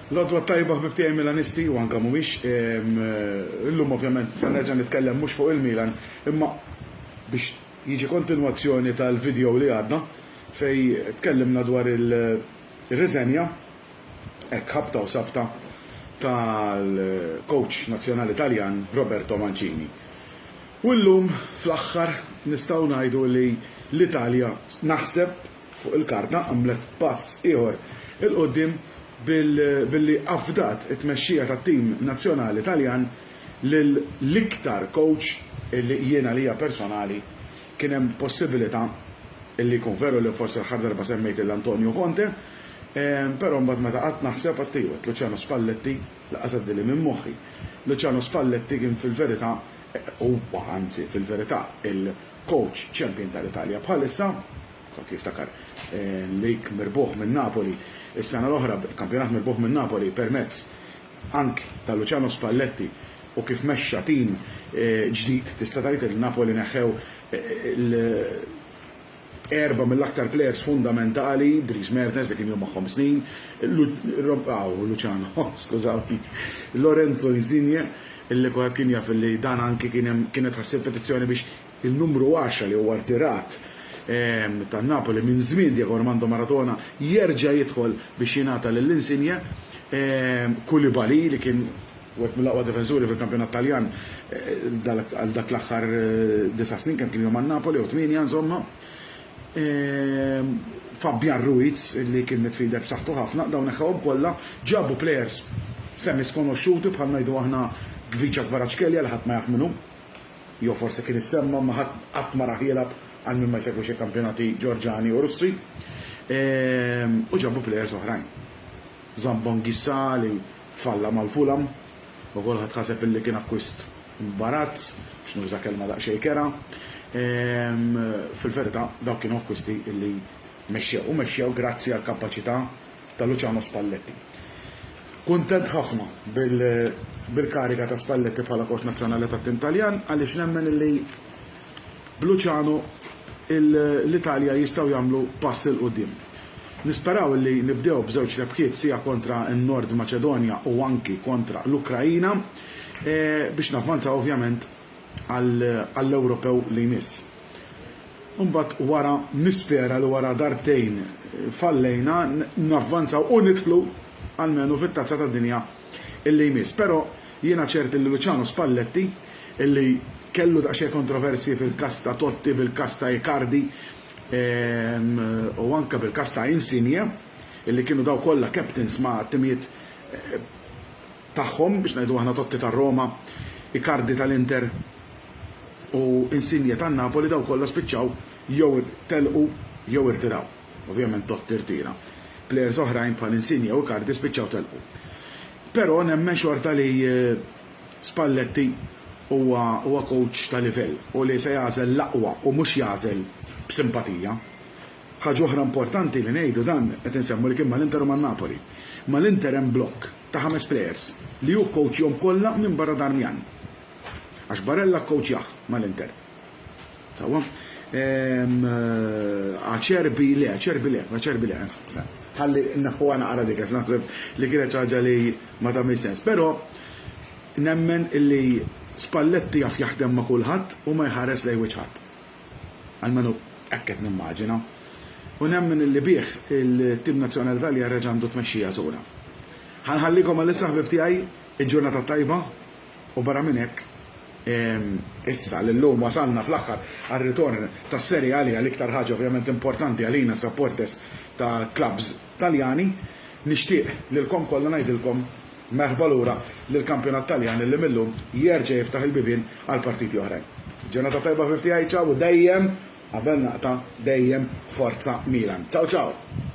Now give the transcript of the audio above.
L-għodwa t-tajba ħbib tiegħi Milanisti u anke mhumiex. Illum ovvjament se nerġa' nitkellem mhux fuq il-Milan imma biex jiġi kontinwazzjoni tal-video li għadda fejn tkellimna dwar ir-riżenja, hekk ħabta u sabta, tal-coach nazzjonali Taljan Roberto Mancini. U llum fl-aħħar nistgħu ngħidu li l-Italja naħseb, fuq il-karta għamlet pass ieħor 'il quddiem billi afdat it-tmexxija tat-tim nazzjonali Taljan lil l-iktar kowċ li jien għalija personali kien hemm possibilità li jkun veru li forsi l-aħħar darba semmejt lil Antonio Conte però mbagħad meta qgħadt naħseb għadt iva, Luciano Spalletti lanqas għaddieli minn moħħi. Luciano Spalletti kien fil-verità huwa anzi fil-verità Coach champion tal-Italja bħalissa, kulħadd jiftakar l-lig mirbuħ minn Napoli s-sena l-oħra, kampjonat mirbuħ minn Napoli permezz ank ta' Luciano Spalletti u kif mexxa tim ġdid, tista' tgħid li Napoli neħħew l erba' mill-aktar plejers fundamentali, Dries Mertens li kien ilu magħhom snin, Luciano, skużawni, Lorenzo Insigne, Il-Lipoep kien jaf li dan anki kien hemm kienet ħassir petizzjoni biex in-numru għaxra li huwa rtirat ta' Napoli minn żmien Diego Armando Maradona jerġa' jidħol biex jingħata lil Insigne. Koulibaly li kien wieħed mill-aqwa difensuri fil-kampjonat Taljan għal dak l-aħħar disa' snin kemm kien ilhom ma' Napoli jew tmienja insomma. Fabian Ruiz li kien midfielder b'saħħtu ħafna, dawn neħħewhom kollha, ġabu players semi-skonoxxuti bħal ngħidu aħna Khvicha Kvaratskhelia li ħadd ma jaf min hu, jew forsi kien issemma imma ħadd qatt ma rah jilgħab għal min ma jsegwix il-kampjonati Ġorġani u Russi, u ġabu players oħrajn. Zambo Anguissa li Falla mal Fulham, u kulħadd ħaseb illi kien akkwist imbarazz, biex nuża kelma daqsxejn kerha. Fil-verità dawk kienu akkwisti illi mexxew, u mexxew grazzi għall-kapaċità ta' Luciano Spalletti. Kuntent ħafna bil-kariga ta' Spalletti bħala kowċ nazzjonali tat-tim Taljan għaliex nemmen illi b'Luciano l-Italja jistgħu jagħmlu pass 'il quddiem. Nisperaw illi nibdew b'żewġ rebħiet sia kontra n-Nord Maċedonja u anki kontra l-Ukraina biex navvanzaw ovvjament għall-Ewropew li jmiss. Imbagħad wara nispera li wara darbtejn fallejna navvanzaw u nidħlu almenu fit-Tazza tad-Dinja li jmiss. Però jiena ċert li Luciano Spalletti, li kellu daqsxejn kontroversji fil-każ ta' Totti, bil-każ ta' Icardi u anke bil-każ ta' Insigne, li kienu dawn kollha captains ma' timijiet tagħhom, biex ngħidu aħna Totti tar-Roma, Icardi tal-Inter u Insigne tan-Napoli, dawn kollha spiċċaw jew telqu jew irtiraw. Ovvjament Totti rtira. Plejers oħrajn bħal Insigne u Icardi spiċċaw telqu. Però nemmen xorta li Spalletti huwa kowċ ta' livell u li se jagħżel l-aqwa u mhux jagħżel b'simpatija. Ħaġa oħra importanti li ngħidu dan qed insemmu li kien mal-Inter u man-Napoli. Mal-Inter hemm blokk ta' ħames plejers li hu kkowċjhom kollha minbarra Darmian. Għax Barella kkowċjah mal-Inter. Tawa. Ehm, aċerbi le, aċerbi le, aċerbi le. Ħalli naħħu għana għara dik, naħseb li kienet ċaġa li ma ta' sens. Pero, nemmen illi Spalletti jaf jaħdem ma' kulħadd u ma jħares lej wiċħat. Għalmenu ekket nimmaġina. U nemmen illi bih il-tim nazzjonali tal-jarreġ għandu tmexxija sura. Ħanħallikom għal-issa ħbib tiegħi il-ġurnata tajba, U barra minn hekk, issa li llum wasalna fl-aħħar għar-ritorn tas-Serie A li hija l-iktar ħaġa ovvjament importanti għalina supporters ta' clubs Taljani, nixtieq lilkom kollha ngħidilkom merħba lura lill-kampjonat Taljan li mil-lum jerġa' jiftaħ il-bibien għal partiti oħrajn. Ġurnata tajba ħbieb tiegħi, ciao u dejjem, qabel naqta', dejjem forza Milan. Ciao ciao!